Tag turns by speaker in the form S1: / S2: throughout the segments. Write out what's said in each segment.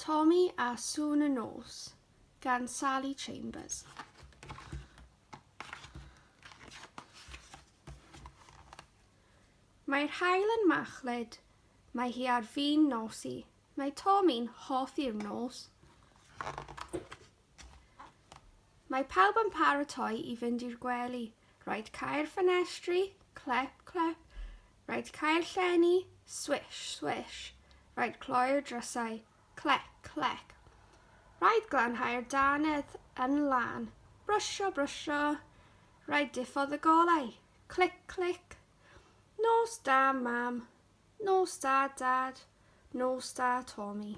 S1: Tommy a Sŵn y Nos gan Sally Chambers. Mae'r hael yn machlud, mae hi ar fin nos i. Mae Tommy'n hoffi'r nos. Mae pawb yn paratoi i fynd i'r gwely. Rhaid cau'r ffenestri, clep, clep. Rhaid cau'r llenni, swish, swish. Rhaid cloi'r drysau, clec, clec. Rhaid glanhau'r danedd yn lan, brwsio, brwsio. Rhaid diffodd y golau, clic, clic. Nos da, mam. Nos da, dad. Nos da, Tommy.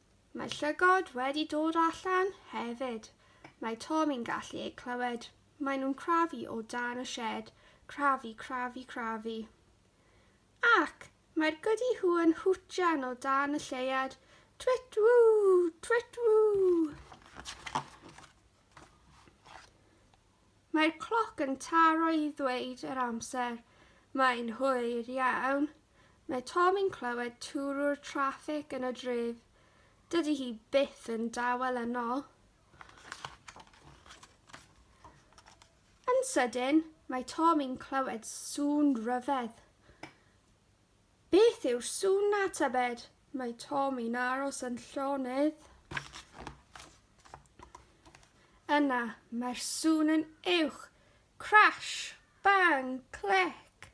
S1: Mae llygod wedi dod allan hefyd. Mae Tomi'n gallu eu clywed. Mae nhw'n crafu o dan y sied. Crafu, crafu, crafu. Ac mae'r Goody Who yn hwtjan o dan y lleuad. Twit ww, twit ww. Mae'r cloc yn taro i ddweud yr amser. Mae'n hwyr iawn. Mae Tom yn clywed twrw'r traffig yn y dref. Dydy hi byth yn dawel yno. Yn sydyn, mae Tom yn clywed sŵn ryfedd. Beth yw sŵn na tybed? Mae Tomi'n aros yn llonydd. Yna, mae'r sŵn yn uwch. Crash! Bang! Clic!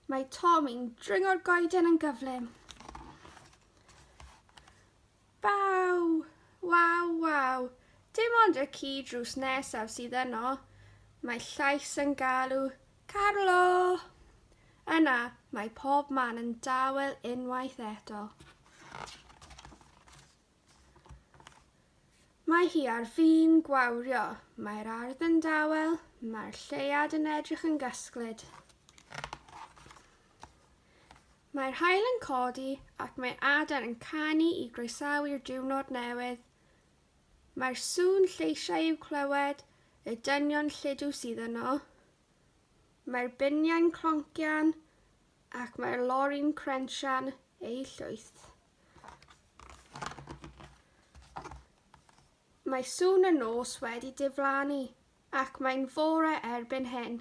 S1: Mae Tomi'n dringo'r goeden yn gyflym. Waw! Waw waw! Dim ond y ci drws nesaf sydd yno. Mae llais yn galw, Carlo! Yna, mae pob man yn dawel unwaith eto. Mae hi ar fin gwawrio. Mae'r ardd yn dawel, mae'r lleuad yn edrych yn gysglyd. Mae'r haul yn codi ac mae adar yn canu i groesawu'r diwrnod newydd. Mae'r sŵn lleisiau i'w clywed, y dynion lludw sydd yno. Mae'r biniau'n cloncian ac mae'r lori'n crensian eu llwyth. Mae sŵn y nos wedi diflannu ac mae'n fore erbyn hyn.